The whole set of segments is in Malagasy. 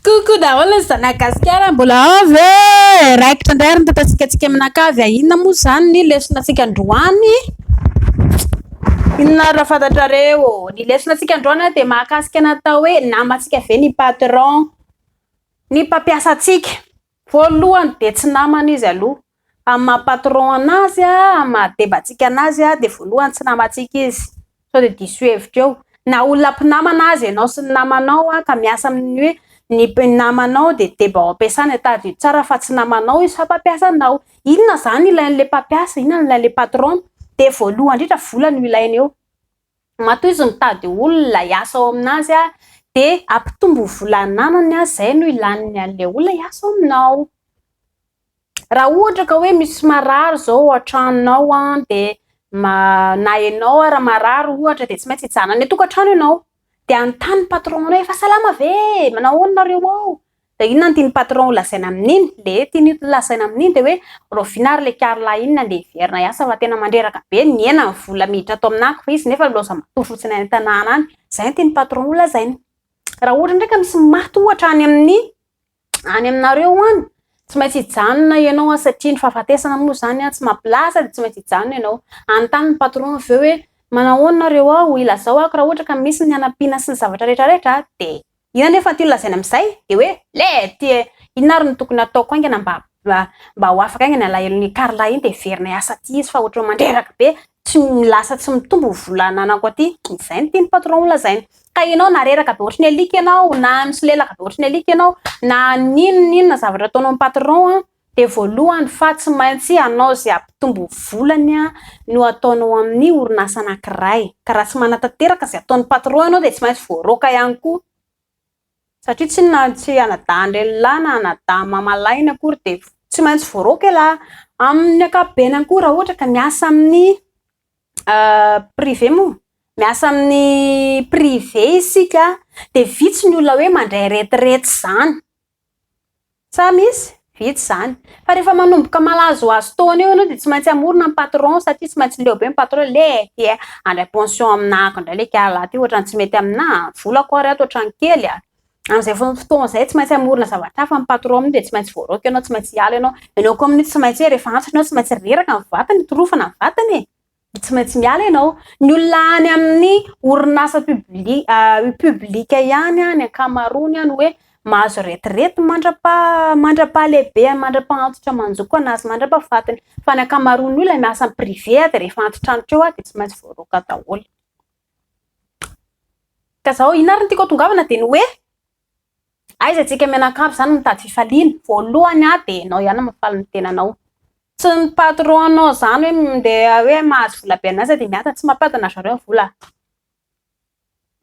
Coucou daholo ny zana gasikara mbola ao ve raikitra indray ary ny tantatsika tsika mianakavy a inona moa zany ny lesona tsika androany inona ary raha fantatrareo ny lesona tsika androany a dia mahakasika natao hoe namatsika ve ny patron ny mpampiasa tsika Voalohany dia tsy namana izy aloha, amin'ny maha patron anazy, amin'ny maha debatsika anazy dia voalohany tsy namantsika izy, sao dia diso hevitra eo, na olona mpinamana aza ianao sy ny namanao ka miasa amin'ny hoe ny mpinamanao dia deba ao am-piasana, tadidio tsara fa tsy namanao izy fa mpampiasa anao, inona izany ilain'ilay mpampiasa, inona no ilain'ilay patron, dia voalohany indrindra vola no ilaina eo. matoa izy mitady olona hiasa ao aminazy de ampitombo vola ananany zay no ilany anle olona hiasa ao aminao raha ohatra ka hoe misy marary zao ao antranonao an de na enao ara marary ohatra de tsy maintsy hijanona any an-tokatrano ianao de anontany patron-nao fa salama ve? manao ahoana nareo ao? Dia inona no tian'ny patron ho lazaina amin'iny? Le tiany ho lazaina amin'iny dia hoe raoviana ary le Carla iny nandeha hiverina hiasa fa tena mandreraka be, nihena ny vola miditra ato amin'ako fa izy nefa nilaozany matoa fotsiny any an-tanàna any. Izay no tian'ny patron ho lazaina. Raha ohatra indray ka misy maty ohatra any amin'ny any aminareo any, tsy maintsy hijanona ianao an, satria ny fahafatesana moa izany an, tsy mampilaza dia tsy maintsy hijanona ianao. Hanontany ny patron avy eo hoe manao ahoana nareo ao, ilazao ako raha ohatra ka misy ny hanampiana sy ny zavatra rehetra rehetra dia Io anefa no tiany lazaina amin'izay dia hoe, lety e! Inona ary no tokony hataoko haingana mba mba ho afaka haingana alahelon'i Carla iny dia heverina hiasa aty izy fa ohatran'ny mandreraka be, tsy lasa tsy mitombo ny vola ananako aty. Izay no tian'ny patron ho lazaina. Ka ianao na reraka be ohatry ny alika ianao, na misolelaka be ohatry ny alika ianao, na n'inona n'inona zavatra ataonao ny patron an, dia voalohany fa tsy maintsy hanao izay hampitombo volany no ataonao amin'ny orinasa anankiray, ka raha tsy manatanteraka izay ataon'ny patron ianao dia tsy maintsy voaroaka ihany koa, satria tsy inona ary tsy anadahin-drehilahy na anadahy mamalahina akory dia tsy maintsy voaroaka ialahy, amin'ny ankapobeny ihany koa raha ohatra ka miasa amin'ny privé moa, miasa amin'ny privé isika dia vitsy ny olona hoe mandray retirety izany. Sa misy? Vitsy izany. Fa rehefa manomboka malazohazo taona eo ianao dia tsy maintsy hamorona ny patron satria tsy maintsy leo be ny patron hoe le ty e, handray pension aminà ako indray le kialà ty ohatran'ny tsy mety aminà a, volako ary ato ohatran'ny kely a. Amin'izay fotoana izay tsy maintsy hamorona zavatra hafa ny patron amin'iny dia tsy maintsy voaraoka ianao, tsy maintsy hiala ianao. Ianao koa amin'iny tsy maintsy hoe rehefa antitra ianao tsy maintsy reraka ny vatana, hitorofana ny vatana e. Tsy maintsy miala ianao. Ny olona any amin'ny orinasa publika ihany ny ankamaroany no hoe mahazo retirety mandra-pahalehibeany, mandra-pahantotra manjoko anazy, mandra-pahafatiny. Fa ny ankamaroan'ny olona miasa amin'ny privé dia rehefa antitrantitra eo dia tsy maintsy voaroaka daholo. Ka izao inona ary no tiako hatongavana dia ny hoe, Aiza tsika mianakavy zany mitady fifaliana, voalohany a de enao ihany mafaly ny tenanao, tsy ny patron nao zany hoe mindeha hoe mahazo vola be an'aza de miasa, tsy mampiadana ry zareo ny vola a,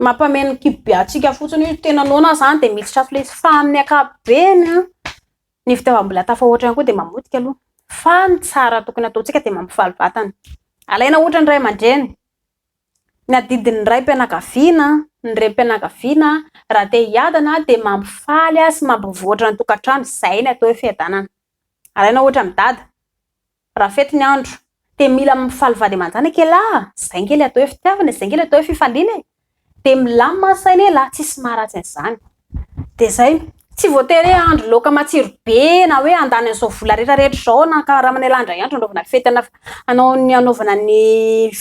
mampameno kibo be antsika fotsiny io tena noana aza de misy trafilezy fa amin'ny ankapobeny a ny fitiavam-bola tafahoatra ihany koa de mamotika aloha fa ny tsara tokony ataontsika de mampifaly vatana, alaina ohatra ny ray aman-dreny Ny adidin'ny raim-pianakaviana, ny renim-pianakaviana raha te hiadana dia mampifaly sy mampivoatra ny tokantrano, izay no atao hoe fiadanana. Alaina ohatra amin'i dada, raha fety ny andro dia mila mifaly vady aman-janaka i lehilahy, izay ange ilay atao hoe fitiavana e, izay ange ilay atao hoe fifaliana e, dia milamina ny saina ialahy, tsisy maharatsy an'izany. Dia zay, tsy voatery hoe ahandro laoka matsiro be na hoe andany an'izao vola rehetra rehetra izao na ankaharamana elah indray andro anaovana fety ana fa hanao ny anaovana ny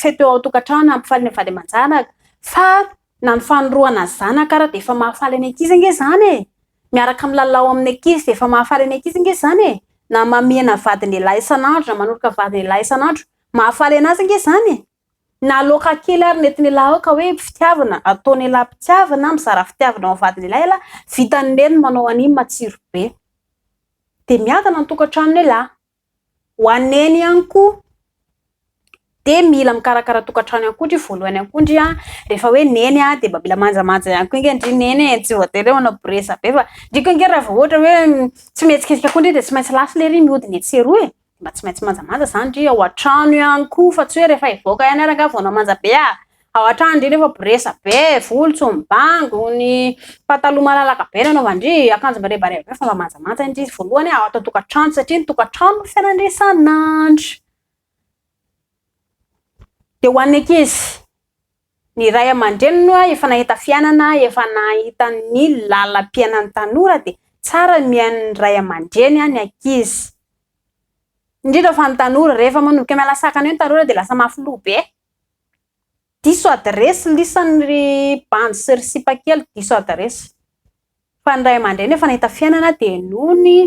fety eo an-tokantrano hampifaly ny vady aman-janaka fa na ny fanorohana ny zanaka ary dia efa mahafaly ny ankizy ange izany e! miaraka milalao amin'ny ankizy dia efa mahafaly ny ankizy ange izany e! na mamihina vadin'elah isan'andro na manoroka vadin'elah isan'andro mahafaly anazy ange izany e! Na loaka kely ary nentin'ialahy aoka hoe fitiavana ataon'ialahy mpitiavana, mizara fitiavana ho vadin'ialahy ialahy, vitan'i Neny ny manao an'iny matsiro be. Dia miadana ny tokantranon'ialahy. Ho an'i Neny ihany koa dia mila mikarakara tokantrano ihany koa ndry voalohany ihany koa ndry an, rehefa hoe Neny an dia mba mila manjamanja ihany koa ange ndry Neny e, tsy voatery hoe manao bourresse be fa ndry koa ange raha vao ohatra hoe tsy mihetsiketsika koa ndry dia tsy maintsy lasa ilay iry mihodina etsy sy eroa e. Mba tsy maintsy manjamanja zany ndry ao antrano ihany koa fa tsy hoe rehefa hivoaka ihany ary angaha vao hanao manja be ah! Ao antrano ndry nefa boresa be, volo tsy mibango, ny pataloha malalaka be no anaovan-dry, akanjo mirebareba be fa mba manjamanja ndry voalohany ah ao an-tokantrano satria ny tokantrano no fiainan'dry isan'andro. Dia ho an'ny ankizy. Ny ray aman-dreniny moa efa nahita fiainana, efa nahita ny lalam-piainan'ny tanora dia tsara ny mihaino ny ray aman-dreny ny ankizy. Indrindra fa ny tanora, rehefa manomboka miala sakana eo ny tanora dia lasa mafy loha be. Diso adiresy lisany ry bandy sy ry sipa kely, diso adiresy. Fa ny ray aman-dreny efa nahita fiainana dia noho ny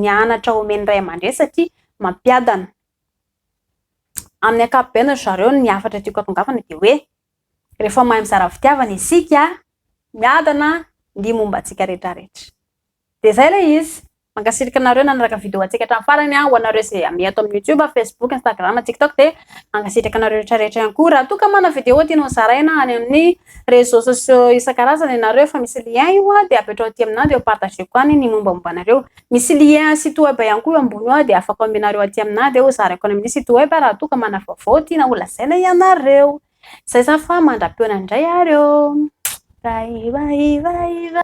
ny anatra omen'ny ray aman-dreny satria mampiadana, amin'ny ankapobeny ry zareo ny hafatra tiako hatongavana dia hoe rehefa mahay mizara fitiavana isika, miadana ny momba antsika rehetrarehetra. Dia izay ilay izy. Mankasitraka anareo nanaraka vidéo antsika hatramin'ny farany. Ho anareo izay miha ato amin'ny YouTube, Facebook, Instagram, TikTok dia mankasitraka anareo rehetrarehetra ihany koa. Raha toa ka manana vidéo tianao hozaraina any amin'ny réseaux sociaux isan-karazany ianareo efa misy lien io dia apetraho aty aminà dia ho partageko any ny mombamomba anareo. Misy lien site web ihany koa eo ambony eo dia afaka omenareo aty aminà dia hozarako any amin'ny site web raha toa ka manana vaovao tiana holazaina ianareo. Izay izany fa mandra-peona indray ary ô! Raivaivaivaiva.